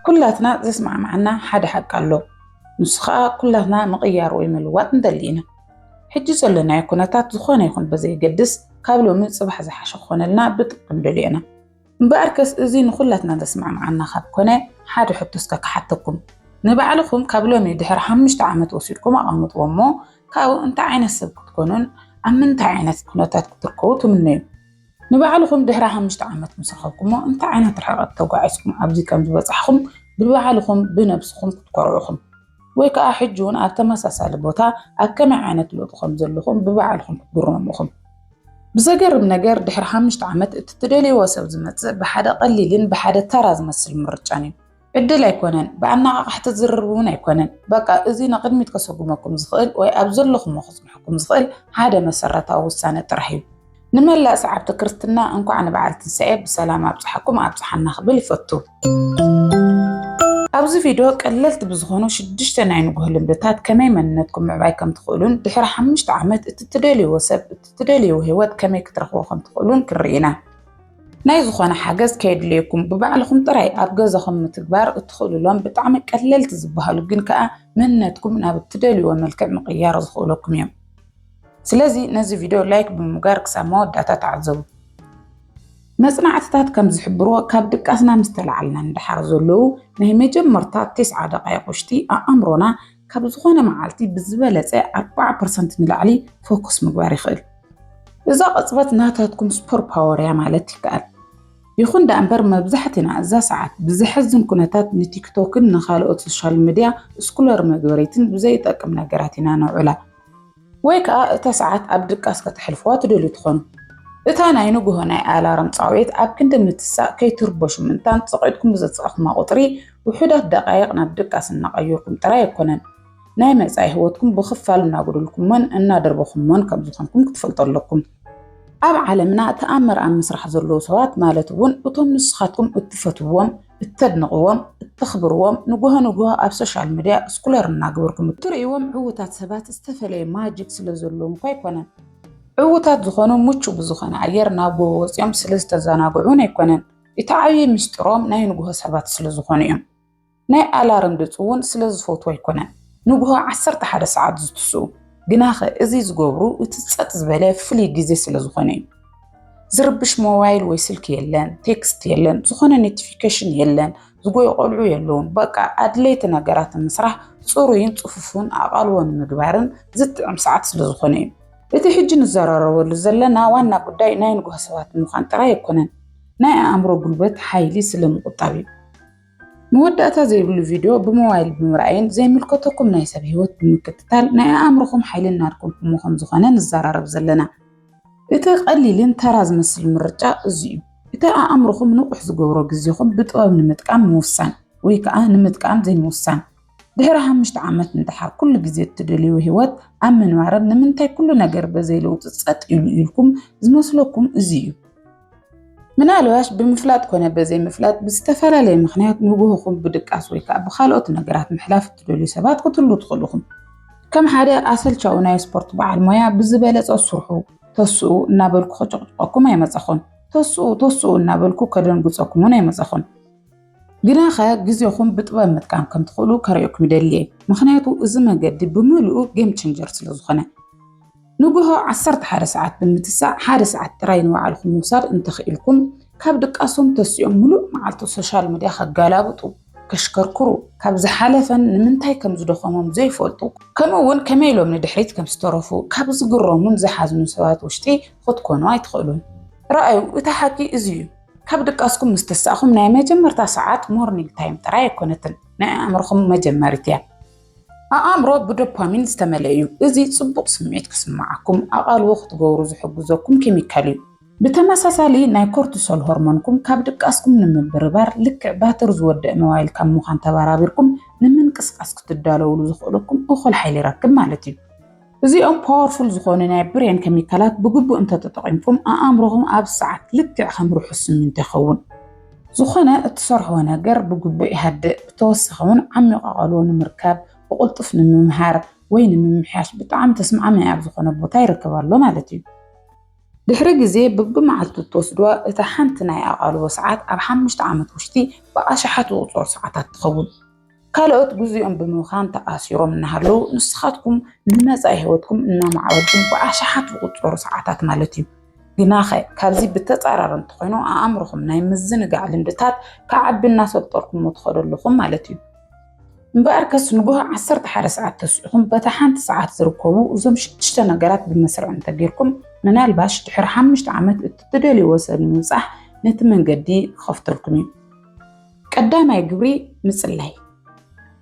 ኩላትና ዘስማዕማዓና ሓደ ሓቂ ኣሎ ንሱ ከኣ ኩላትና ምቕያር ወይ ምልዋጥ ንደሊ ኢና። ሕጂ ዘሎናዮ ኩነታት ዝኾነ ይኹን ብዘየገድስ ካብ ሎሚ ጽባሕ ዝሓሸ ክኾነልና ብጥብቂ ንደልዮ ኢና። እምበኣርከስ እዚ ንኹላትና ዘስማዕማዓና ካብ ኮነ ሓደ ሕቶ እስከ ክሓተኩም። ንባዕልኹም ካብ ሎሚ ድሕሪ ሓሙሽተ ዓመት ወሲድኩም ኣቐምጥዎ እሞ ካብኡ እንታይ ዓይነት ሰብ ክትኮኑን ኣብ ምንታይ ዓይነት ኩነታት ክትርከቡ ትምነዩ? ንባዕልኹም ድሕሪ ሓሙሽተ ዓመት ምስ ረኸብኩሞ እንታይ ዓይነት ርሕቐት ተጓዒዝኩም ኣብዚ ከም ዝበጻሕኹም ብባዕልኹም ብነብስኹም ክትኮርዑ ኢኹም። ወይ ከኣ ሕጂ እውን ኣብ ተመሳሳሊ ቦታ ኣብ ከመይ ዓይነት ለውጢ ከም ዘለኹም ብባዕልኹም ክትግረሙ ኢኹም። ብዘገርም ነገር ድሕሪ ሓሙሽተ ዓመት እቲ ትደልይዎ ሰብ ዝመጽእ ብሓደ ቀሊልን ብሓደ ተራ ዝመስል ምርጫን እዩ። ዕድል ኣይኮነን ብኣነቓቓሕቲ ዝርርብ እውን ኣይኮነን። በቃ እዚ ንቕድሚት ከሰጉመኩም ዝኽእል ወይ ኣብ ዘለኹሞ ከጽንሐኩም ዝኽእል ሓደ መሰረታዊ ውሳነ ጥራሕ እዩ። ንመላእ ሰዓብቲ ክርስትና እንኳዕ ንበዓል ትንሳኤ ብሰላም ኣብጽሓኩም ኣብጽሓና ክብል ይፈቱ። ኣብዚ ቪድዮ ቀለልቲ ብዝኾኑ ሽዱሽተ ናይ ንጉሆ ልምድታት ከመይ መንነትኩም ምዕባይ ከም ትኽእሉን ድሕሪ ሓሙሽተ ዓመት እቲ ትደልይዎ ሰብ እቲ ትደልይዎ ህይወት ከመይ ክትረኽቡ ከም ትኽእሉን ክንርኢ ኢና። ናይ ዝኾነ ሓገዝ ከየድልየኩም ብባዕልኹም ጥራይ ኣብ ገዛኹም ምትግባር እትኽእሉሎም ብጣዕሚ ቀለልቲ ዝበሃሉ ግን ከዓ መንነትኩም ናብ እትደልዩዎ መልክዕ ምቕያር ዝኽእለኩም እዮም። ስለዚ ነዚ ቪድዮ ላይክ ብምጋር ክሳብ መወዳእታ ተዓዘቡ። መጽናዕትታት ከም ዝሕብርዎ ካብ ድቃስና ምስ ተላዓልና ንደሓር ዘለዉ ናይ መጀመርታ ቴስዓ ደቓይቕ ውሽጢ ኣእምሮና ካብ ዝኾነ መዓልቲ ብዝበለፀ ኣርባዓ ፐርሰንት ንላዕሊ ፎከስ ምግባር ይኽእል። እዛ ቅፅበት ናታትኩም ሱፐር ፓወር እያ ማለት ይከኣል። ይኹን ደኣ እምበር መብዛሕትና እዛ ሰዓት ብዘሕዝን ኩነታት ንቲክቶክን ንኻልኦት ሶሻል ሚዲያ ስኩለር መግበሪትን ብዘይጠቅም ነገራት ኢና ነውዕላ። ወይ ከኣ እታ ሰዓት ኣብ ድቃስ ከተሕልፉዋ ትደልዩ ትኾኑ። እታ ናይ ንግሆ ናይ ኣላርም ጻውዒት ኣብ ክንዲ ምትሳእ ከይትርበሹ ምእንታን ጸቂጥኩም ብዘጻእኩማ ቁጽሪ ውሑዳት ደቃይቅ ናብ ድቃስ እናቀየርኩም ጥራይ ኣይኮነን ናይ መጻኢ ህይወትኩም ብኽፋል እናጎደልኩሞን እናደርበኹሞን ከም ዝኾንኩም ክትፈልጡ ኣለኩም። ኣብ ዓለምና ተኣምር ኣብ ምስራሕ ዘለዉ ሰባት ማለት እውን እቶም ንስኻትኩም እትፈትውዎም እተድንቕዎም፣ እተኽብርዎም፣ ንጉሆ ንጉሆ ኣብ ሶሻል መድያ እስኩለር እናገበርኩም እትርእይዎም ዕዉታት ሰባት ዝተፈለየ ማጂክ ስለ ዘለዎም እኳ ኣይኮነን። ዕዉታት ዝኾኑ ምቹው ብዝኾነ ኣየር ናብ ጎቦ ወጺኦም ስለ ዝተዘናግዑ እውን ኣይኮነን። እቲ ዓብዪ ምስጢሮም ናይ ንጉሆ ሰባት ስለ ዝኾኑ እዮም። ናይ ኣላርም ድምጺ እውን ስለ ዝፈትዉ ኣይኮነን ንጉሆ ዓሰርተ ሓደ ሰዓት ዝትስኡ። ግናኸ እዚ ዝገብሩ እቲ ጸጥ ዝበለ ፍሉይ ግዜ ስለ ዝኾነ እዩ። ዝርብሽ ሞባይል ወይ ስልኪ የለን፣ ቴክስት የለን፣ ዝኾነ ኖቲፊኬሽን የለን፣ ዝጎዩ ቆልዑ የለውን። በቃ ኣድለይቲ ነገራት ምስራሕ ፅሩይን ፅፉፉን ኣቓልቦ ንምግባርን ዝጥዕም ሰዓት ስለዝኾነ እዩ። እቲ ሕጂ ንዘራረበሉ ዘለና ዋና ጉዳይ ናይ ንጉሆ ሰባት ምዃን ጥራይ ኣይኮነን፣ ናይ ኣእምሮ ጉልበት ሓይሊ ስለምቑጣብ እዩ። መወዳእታ ዘይብሉ ቪድዮ ብሞባይል ብምርኣይን ዘይምልከተኩም ናይ ሰብ ህይወት ብምክትታል ናይ ኣእምሮኹም ሓይሊ እናድከምኩሞ ከም ዝኾነ ንዘራረብ ዘለና። እቲ ቀሊልን ተራ ዝመስል ምርጫ እዚ እዩ። እቲ ኣእምሮኹም ንቑሕ ዝገብሮ ግዜኹም ብጥበብ ንምጥቃም ምውሳን ወይ ከዓ ንምጥቃም ዘይምውሳን። ድሕሪ ሓሙሽተ ዓመት እንድሓር ኩሉ ግዜ እትደልይዎ ህይወት ኣብ ምንባርን ንምንታይ ኩሉ ነገር በዘይ ለውጢ ፀጥ ኢሉ ኢልኩም ዝመስለኩም እዚ እዩ። ምናልባሽ ብምፍላጥ ኮነ በዘይምፍላጥ ብዝተፈላለየ ምክንያት ንጉህኹም ብድቃስ ወይ ከዓ ብካልኦት ነገራት ምሕላፍ እትደልዩ ሰባት ክትህሉ ትኽእሉ ኢኹም። ከም ሓደ ኣሰልቻዊ ናይ ስፖርት በዓል ሞያ ብዝበለፀ ስርሑ ተስኡ እናበልኩ ከጨቕጭቐኩም ኣይመፀኹን። ተስኡ ተስኡ እናበልኩ ከደንግፀኩም እውን ኣይመፀኹን። ግናኸ ግዜኹም ብጥበብ ምጥቃም ከም ትኽእሉ ከርእየኩም ይደሊ እየ። ምክንያቱ እዚ መገዲ ብምልኡ ጌም ቼንጀር ስለ ዝኾነ። ንጉሆ ዓሰርተ ሓደ ሰዓት ብምትሳእ ሓደ ሰዓት ጥራይ ንባዕልኹም ምውሳድ እንተኽኢልኩም ካብ ድቃሶም ተሲኦም ምሉእ መዓልቲ ሶሻል ሚድያ ከጋላብጡ፣ ከሽከርክሩ፣ ካብ ዝሓለፈን ንምንታይ ከም ዝደኸሞም ዘይፈልጡ ከምኡ እውን ከመይ ኢሎም ንድሕሪት ከም ዝተረፉ ካብ ዝግረሙን ዝሓዝኑን ሰባት ውሽጢ ኽትኮኑ ኣይትኽእሉን። ርኣዩ እቲ ሓቂ እዚ እዩ። ካብ ድቃስኩም ምስ ተሳእኹም ናይ መጀመርታ ሰዓት፣ ሞርኒንግ ታይም፣ ጥራይ ኣይኮነትን፣ ናይ ኣእምሮኹም መጀመሪት እያ። ኣኣምሮ ብዶፓሚን ዝተመልአ እዩ፣ እዚ ጽቡቕ ስምዒት ክስምዓኩም ኣቓልቦ ክትገብሩ ዝሕግዘኩም ኬሚካል እዩ። ብተመሳሳሊ፣ ናይ ኮርቲሶል ሆርሞንኩም ካብ ድቃስኩም ንምብርባር፣ ልክዕ ባትሪ ዝወድእ ሞባይል ካብ ምዃን ተበራቢርኩም ንምንቅስቓስ ክትዳለዉሉ ዘኽእለኩም እኹል ሓይሊ ይረክብ ማለት እዩ። እዚኦም ፓወርፉል ዝኾኑ ናይ ብሬን ከሚካላት ብግቡእ እንተተጠቒምኩም ኣኣምሮኹም ኣብዚ ሰዓት ልክዕ ከም ርሑስ ስሚንቶ ይኸውን። ዝኾነ እትሰርሕዎ ነገር ብግቡእ ይሃድእ፣ ብተወሳኺ እውን ዓሚቕ ኣቓልቦ ንምርካብ፣ ብቕልጡፍ ንምምሃር ወይ ንምምሕያሽ ብጣዕሚ ተስማዕማዒ ኣብ ዝኾነ ቦታ ይርከብ ኣሎ ማለት እዩ። ድሕሪ ግዜ ብብመዓልቱ እትወስድዋ እታ ሓንቲ ናይ ኣቓልቦ ሰዓት ኣብ ሓሙሽተ ዓመት ውሽጢ ብኣሽሓት ዝቑጸሩ ሰዓታት ትኸውን። ካልኦት ግዚኦም ብምብኻን ተኣሲሮም እናሃለዉ ንስኻትኩም ንመፃኢ ህይወትኩም እናማዕበልኩም ብኣሽሓት ዝቑፀሩ ሰዓታት ማለት እዩ። ግናኸ ካብዚ ብተፃራሪ እንተኾይኑ ኣእምሮኹም ናይ ምዝንጋዕ ልምድታት ክዓቢ እናሰልጠርኩሞ ትኸዱ ኣለኹም ማለት እዩ። እምበኣር ከስ ንጉሆ ዓሰርተ ሓደ ሰዓት ተስዒኹም በታ ሓንቲ ሰዓት ዝርከቡ እዞም ሽዱሽተ ነገራት ብመስርዕ እንተጌርኩም ምናልባሽ ድሕሪ ሓሙሽተ ዓመት እቲ ትደልይዎ ሰብ ንምብፃሕ ነቲ መንገዲ ክኸፍተልኩም እዩ። ቀዳማይ ግብሪ ምጽላይ።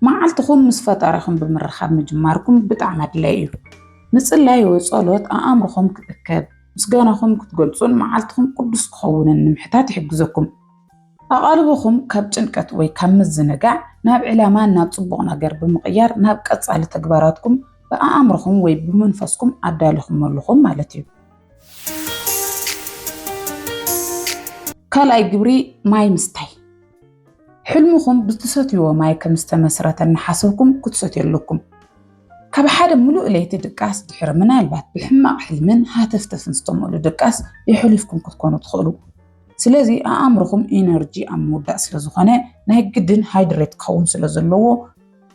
መዓልትኹም ምስ ፈጣሪኹም ብምርኻብ ምጅማርኩም ብጣዕሚ ኣድላይ እዩ። ምጽላይ ወይ ጸሎት ኣእምሮኹም ክእከብ፣ ምስጋናኹም ክትገልጹን መዓልትኹም ቅዱስ ክኸውንን ንምሕታት ይሕግዘኩም። ኣቓልቦኹም ካብ ጭንቀት ወይ ካብ ምዝንጋዕ ናብ ዕላማን ናብ ጽቡቕ ነገር ብምቕያር ናብ ቀጻሊ ተግባራትኩም ብኣእምሮኹም ወይ ብመንፈስኩም ኣዳሊኹም ኣለኹም ማለት እዩ። ካልኣይ ግብሪ ማይ ምስታይ ሕልምኹም ብትሰትይዎ ማይ ከም ዝተመስረተ እናሓሰብኩም ክትሰትዩ ኣለኩም። ካብ ሓደ ምሉእ ለይቲ ድቃስ ድሕሪ ምናልባት ብሕማቕ ሕልምን ሃተፍተፍን ዝተመሉ ድቃስ የሕሊፍኩም ክትኮኑ ትኽእሉ። ስለዚ ኣእምርኹም ኢነርጂ ኣብ ምውዳእ ስለ ዝኾነ ናይ ግድን ሃይድሬት ክኸውን ስለ ዘለዎ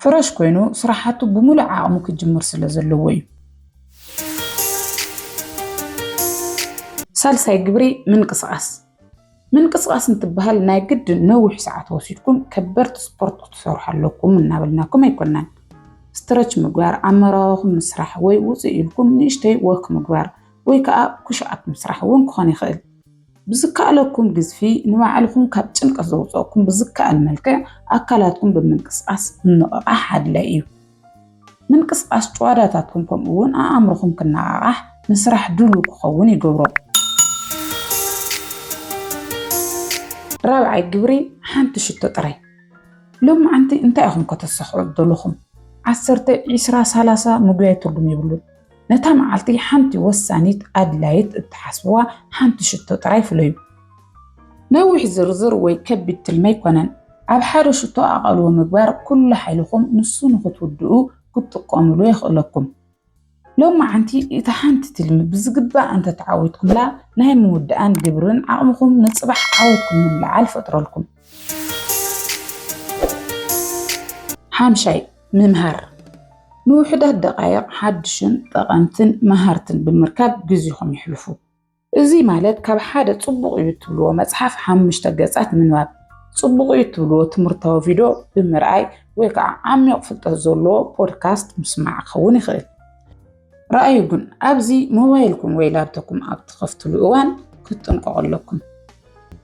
ፍረሽ ኮይኑ ስራሓቱ ብሙሉእ ዓቕሙ ክጅምር ስለ ዘለዎ እዩ። ሳልሳይ ግብሪ ምንቅስቓስ ምንቅስቓስ እንትበሃል ናይ ግድን ነዊሕ ሰዓት ወሲድኩም ከበድቲ ስፖርት ክትሰርሑ ኣለኩም እናበልናኩም ኣይኮናን። ስትረች ምግባር፣ ኣመራዋኹም ምስራሕ ወይ ውፅእ ኢልኩም ንእሽተይ ወክ ምግባር ወይ ከዓ ኩሽኣፕ ምስራሕ እውን ክኾን ይኽእል። ብዝከኣለኩም ግዝፊ ንባዕልኹም ካብ ጭንቀት ዘውፀእኩም ብዝከኣል መልክዕ ኣካላትኩም ብምንቅስቃስ ምንቕቓሕ ኣድላይ እዩ። ምንቅስቃስ ጭዋዳታትኩም ከምኡ እውን ኣእምሮኹም ክነቓቓሕ ንስራሕ ድሉው ክኸውን ይገብሮ። ራብዓይ ግብሪ ሓንቲ ሽቶ ጥራይ ሎም መዓንቲ እንታይ ኢኹም ከተሳኽዑ ዘለኹም ዓሰርተ ዒስራ ሳላሳ ምጉያይ ትርጉም የብሉን። ነታ መዓልቲ ሓንቲ ወሳኒት ኣድላይት እትሓስብዋ ሓንቲ ሽቶ ጥራይ ፍለዩ። ነዊሕ ዝርዝር ወይ ከቢድ ትልሚ ኣይኮነን። ኣብ ሓደ ሽቶ ኣቓልቦ ምግባር ኩሉ ሓይልኹም ንሱ ንኽትውድኡ ክትጥቀሙሉ የኽእለኩም። ሎማዓንቲ እታ ሓንቲ ትልሚ ብዝግባእ እንተተዓዊትኩምላ ናይ ምውዳኣን ግብርን ዓቕምኹም ንጽባሕ ዓወትኩም ምልዕዓል ፈጥረልኩም። ሓምሻይ፣ ምምሃር ንውሑዳት ደቓይቕ ሓድሽን ጠቐምትን መሃርትን ብምርካብ ግዜኹም ይሕልፉ። እዚ ማለት ካብ ሓደ ጽቡቕ እዩ እትብልዎ መጽሓፍ ሓሙሽተ ገጻት ምንባብ፣ ጽቡቕ እዩ እትብልዎ ትምህርታዊ ቪድዮ ብምርኣይ ወይ ከዓ ዓሚቕ ፍልጠት ዘለዎ ፖድካስት ምስማዕ ክኸውን ይኽእል። ረኣዩ ግን ኣብዚ ሞባይልኩም ወይ ላፕቶፕኩም ኣብ ትኸፍትሉ እዋን ክትጥንቀቑ ኣለኩም።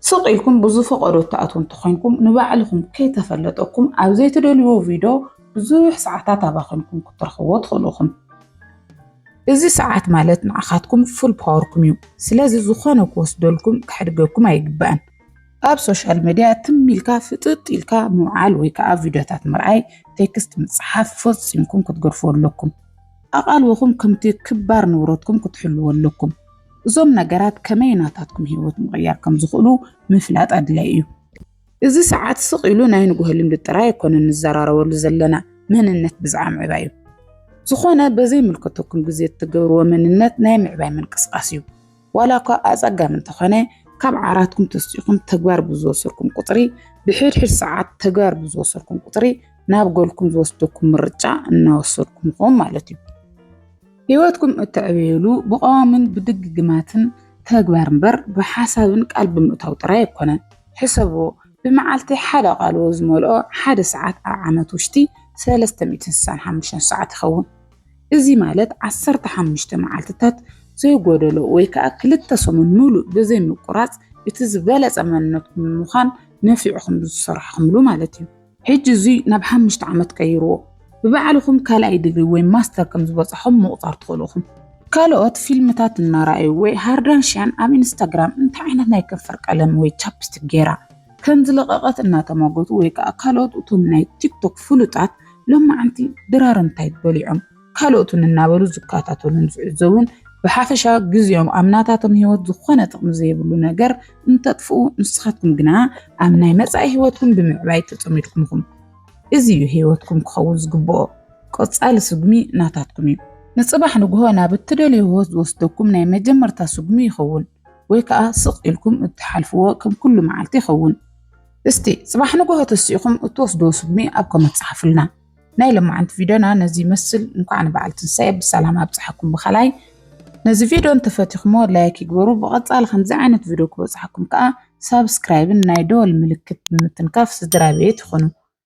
ስቕ ኢልኩም ብዝፈቐዶ እትኣትዉ እንተኾይንኩም ንባዕልኹም ከይተፈለጠኩም ኣብ ዘይትደልዩዎ ቪድዮ ብዙሕ ሰዓታት ኣባኺንኩም ክትረኽብዎ ትኽእሉ ኢኹም። እዚ ሰዓት ማለት ንዓኻትኩም ፉል ፓወርኩም እዩ። ስለዚ ዝኾነ ክወስደልኩም ከሕድገኩም ኣይግባእን። ኣብ ሶሻል ሚድያ ትም ኢልካ ፍጥጥ ኢልካ ምውዓል ወይ ከዓ ቪድዮታት ምርኣይ፣ ቴክስት ምፅሓፍ ፈፂምኩም ክትገድፉ ኣለኩም። ኣቓልቦኹም ከምቲ ክባር ንብረትኩም ክትሕልዎ ኣለኩም። እዞም ነገራት ከመይ ናታትኩም ህይወት ምቕያር ከም ዝኽእሉ ምፍላጥ ኣድላይ እዩ። እዚ ሰዓት ስቕ ኢሉ ናይ ንግሆ ልምዲ ጥራይ ኣይኮነን ንዘራረበሉ ዘለና፣ መንነት ብዝዓ ምዕባይ እዩ። ዝኾነ በዘይምልከተኩም ግዜ እትገብርዎ መንነት ናይ ምዕባይ ምንቅስቓስ እዩ። ዋላ እኳ ኣጸጋሚ እንተኾነ፣ ካብ ዓራትኩም ተስኢኹም ተግባር ብዝወሰድኩም ቁጽሪ፣ ብሕድሕድ ሰዓት ተግባር ብዝወሰድኩም ቁጽሪ፣ ናብ ጎልኩም ዝወስደኩም ምርጫ እናወሰድኩም ኢኹም ማለት እዩ። ህይወትኩም እተዕብዩሉ ብቐዋምን ብድግግማትን ተግባር እምበር ብሓሳብን ቃል ብምእታው ጥራይ ኣይኮነን። ሕሰብዎ፣ ብመዓልቲ ሓደ ቃልዎ ዝመልኦ ሓደ ሰዓት ኣብ ዓመት ውሽቲ ሰለስተ ሚእትን ስሳን ሓሙሽተን ሰዓት ይኸውን። እዚ ማለት ዓሰርተ ሓሙሽተ መዓልትታት ዘይጎደሎ ወይ ከዓ ክልተ ሰሙን ሙሉእ ብዘይ ምቁራፅ እቲ ዝበለፀ መንነትኩም ንምዃን ነፊዕኹም ዝሰራሕኹምሉ ማለት እዩ። ሕጂ እዙይ ናብ ሓሙሽተ ዓመት ቀይርዎ ብባዕልኹም ካልኣይ ዲግሪ ወይ ማስተር ከም ዝበፃኹም ምቑፃር ትኽእሉ ኢኹም። ካልኦት ፊልምታት እናረኣዩ ወይ ሃርዳንሽያን ኣብ ኢንስታግራም እንታይ ዓይነት ናይ ከንፈር ቀለም ወይ ቻፕስቲክ ገይራ? ከምዝለቐቐት እናተሟገቱ ወይ ከዓ ካልኦት እቶም ናይ ቲክቶክ ፍሉጣት ሎማዓንቲ ድራር እንታይ በሊዖም ካልኦትን እናበሉ ዝከታተሉን ዝዕዘቡን ብሓፈሻ ግዜኦም ኣብ ናታቶም ህይወት ዝኾነ ጥቕሚ ዘይብሉ ነገር እንተጥፍኡ ንስኻትኩም ግና ኣብ ናይ መጻኢ ህይወትኩም ብምዕባይ ተጸሚድኩም ኢኹም። እዚ እዩ ህይወትኩም ክኸውን ዝግብኦ። ቀጻሊ ስጉሚ ናታትኩም እዩ። ንጽባሕ ንግሆ ናብ እትደልዮ ህይወት ዝወስደኩም ናይ መጀመርታ ስጉሚ ይኸውን። ወይ ከኣ ስቕ ኢልኩም እትሓልፍዎ ከም ኩሉ መዓልቲ ይኸውን። እስቲ ጽባሕ ንግሆ ተሲእኹም እትወስድዎ ስጉሚ ኣብ ኮመት ጸሓፉልና። ናይ ለማዓንቲ ቪድዮና ነዚ ይመስል እንኳዕ ንበዓል ትንሳኤ ብሰላም ኣብጽሓኩም ብካላይ ነዚ ቪድዮ እንተፈቲኹሞ ላይክ ይግበሩ ብቐጻሊ ከምዚ ዓይነት ቪድዮ ክበጽሓኩም ከኣ ሳብስክራይብን ናይ ደወል ምልክት ብምትንካፍ ስድራቤት ይኹኑ